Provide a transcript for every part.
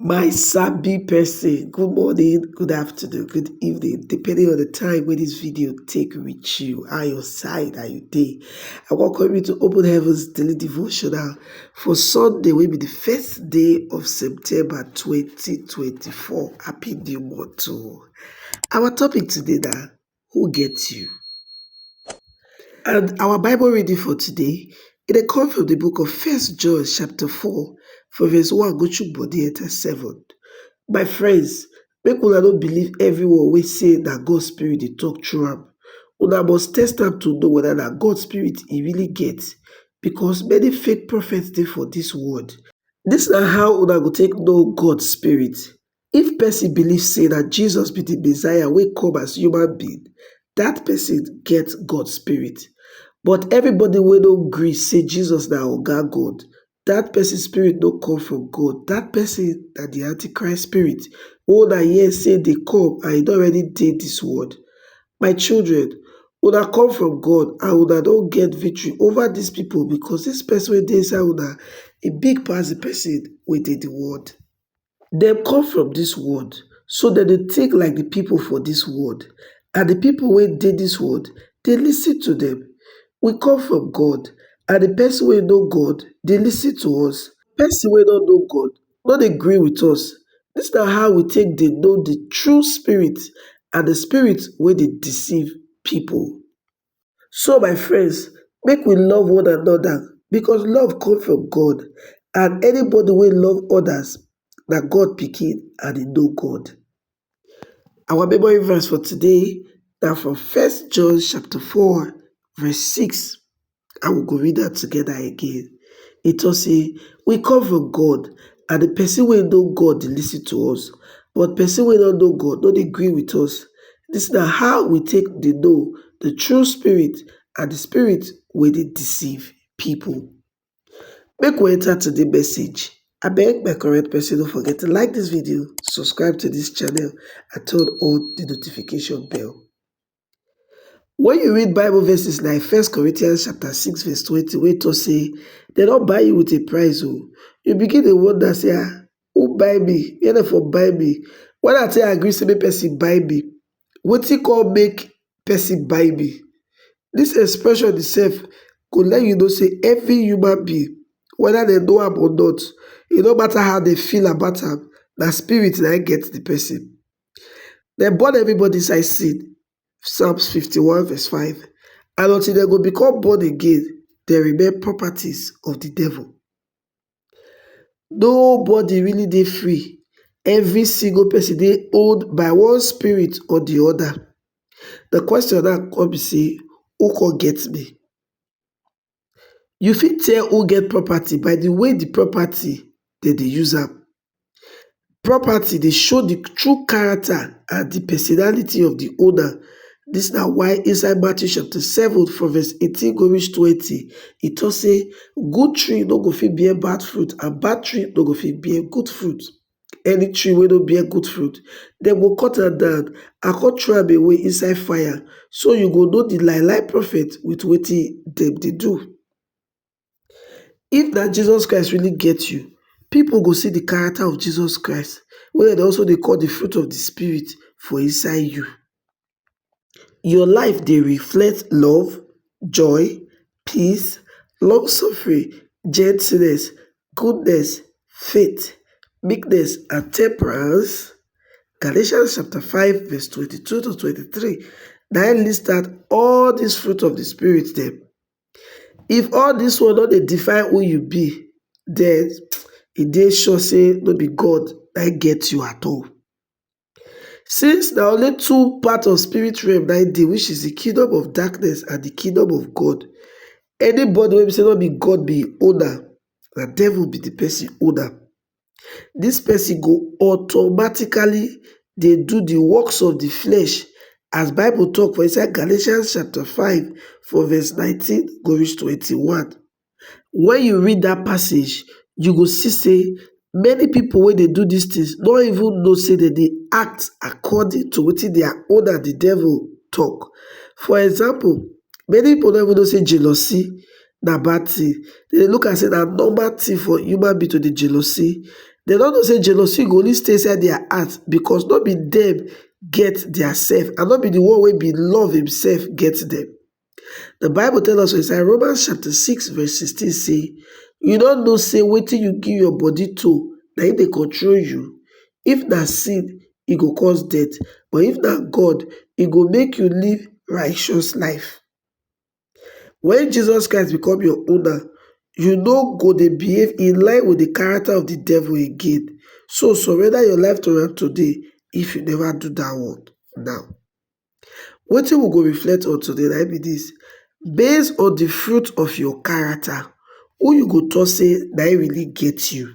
My sabi person, good morning, good afternoon, good evening, depending on the time wey this video take reach you, how your side, how you dey. I welcome you to Open Heavens Daily Devotional for Sunday wey be the first day of September 2024. Happy new month to Our topic today na who get you? And our Bible reading for today, it dey come from the book of First John chapter 4, from verse 1 go to body enter 7. My friends, make una no believe everyone wey say na God spirit dey talk through am. Una must test am to know whether na God spirit e really get, because many fake prophets dey for this world. This na how una go take know God spirit. If pesin believe sey na Jesus be di Messiah wey come as human being, dat pesin get God spirit. But everybody wey no gree sey Jesus na Oga God, dat pesin spirit no come from God, dat pesin na di antichrist spirit wey una hear sey dey come and e don already dey dis world. My children, una come from God and una don get victory over dis pipo because dis pesin wey dey inside una e big pass di pesin wey dey di world. Dem come from dis world, so dem dey think like di pipo for dis world, and di pipo wey dey dis world dey listen to dem. We come from God, and di pesin wey know God dey listen to us. Pesin wey no know God no dey gree wit us. Dis na how we take dey know di true spirit and di spirit wey dey deceive pipo. So my friends, make we love one another because love come from God and anybody wey love others na God pikin and he know God. Our memory verse for today na from First John chapter 4 verse 6 and we go read am together again. E talk say, we come from God and the person wey know God dey listen to us but person wey no know God no dey gree with us Dis na how we take dey know the true spirit and the spirit wey dey deceive people. Make we enter to the message. Abeg my correct person no forget to like this video, subscribe to this channel and turn on the notification bell. When you read Bible verses like First Corinthians chapter 6 verse 20 wey talk say they don't buy you with a price oh, you begin to wonder say ah Who buy me? Where dem for buy me? When I take agree say make person buy me, wetin come make person buy me? This expression itself go let you know say every human being, whether they know am or not, e no matter how they feel about am, na spirit na get the person. They born everybody inside sin, Psalms 51 verse 5. And until they go become born again, they remain properties of the devil. nobody really dey free every single person dey owned by one spirit or the other the question now come be say who come get me? you fit tell who get property by the way the property dem dey use am Property dey show di true character and di personality of di owner, dis na why inside Matthew chapter seven from verse eighteen go reach twenty e talk say good tree no go fit bear bad fruit and bad tree no go fit bear good fruit. Any tree wey no bear good fruit dem go cut am down and come throw am away inside fire so you go know di lie lie prophet with wetin dem dey do. If na Jesus Christ really get you, people go see the character of Jesus Christ wey dem also dey call the fruit of the spirit for inside you. Your life dey reflect love, joy, peace, long suffering, gentleness, goodness, faith, meekness and temperance? Galatians chapter 5 verse 22 to 23 na im list out all these fruit of the spirit dem. If all dis one no dey define who you be, den e dey sure sey no be God na im get you at all. Since na only two part of spirit realm na im dey which is de kingdom of darkness and de kingdom of God, anybody wey be sey no be God be im owner, na devil be de person owner. dis pesin go automatically dey do di works of di flesh as bible tok for inside Galatians chapter five from verse nineteen go reach twenty one. Wen you read dat passage you go see sey many pipu wey dey do dis tins no even know sey dem dey act according to wetin dia owner di devil tok. For example many pipu no even know sey jealousy na bad thing, dem dey look am sey na normal thing for human being to dey jealousy, dem nor know sey jealousy go only stay inside their heart because nor be dem get their self and nor be de one wey be love im self get dem. De bible tell us for inside Romans chapter six verse sixteen sey, you nor know sey wetin you give your body to na im dey control you, if na sin e go cause death but if na God e go make you live righteous life. When Jesus Christ become your owner, you no go dey behave in line with the character of the devil again. So surrender your life to am today if you never do that one now. Wetin we go reflect on today na be this. Based on the fruit of your character, who you go talk say na really get you?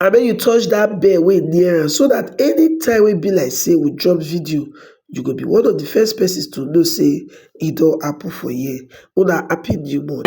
abeg you touch that bell wey near am so that anytime wey be like say we drop video you go be one of the first persons to know say e don happen for here una happy new month.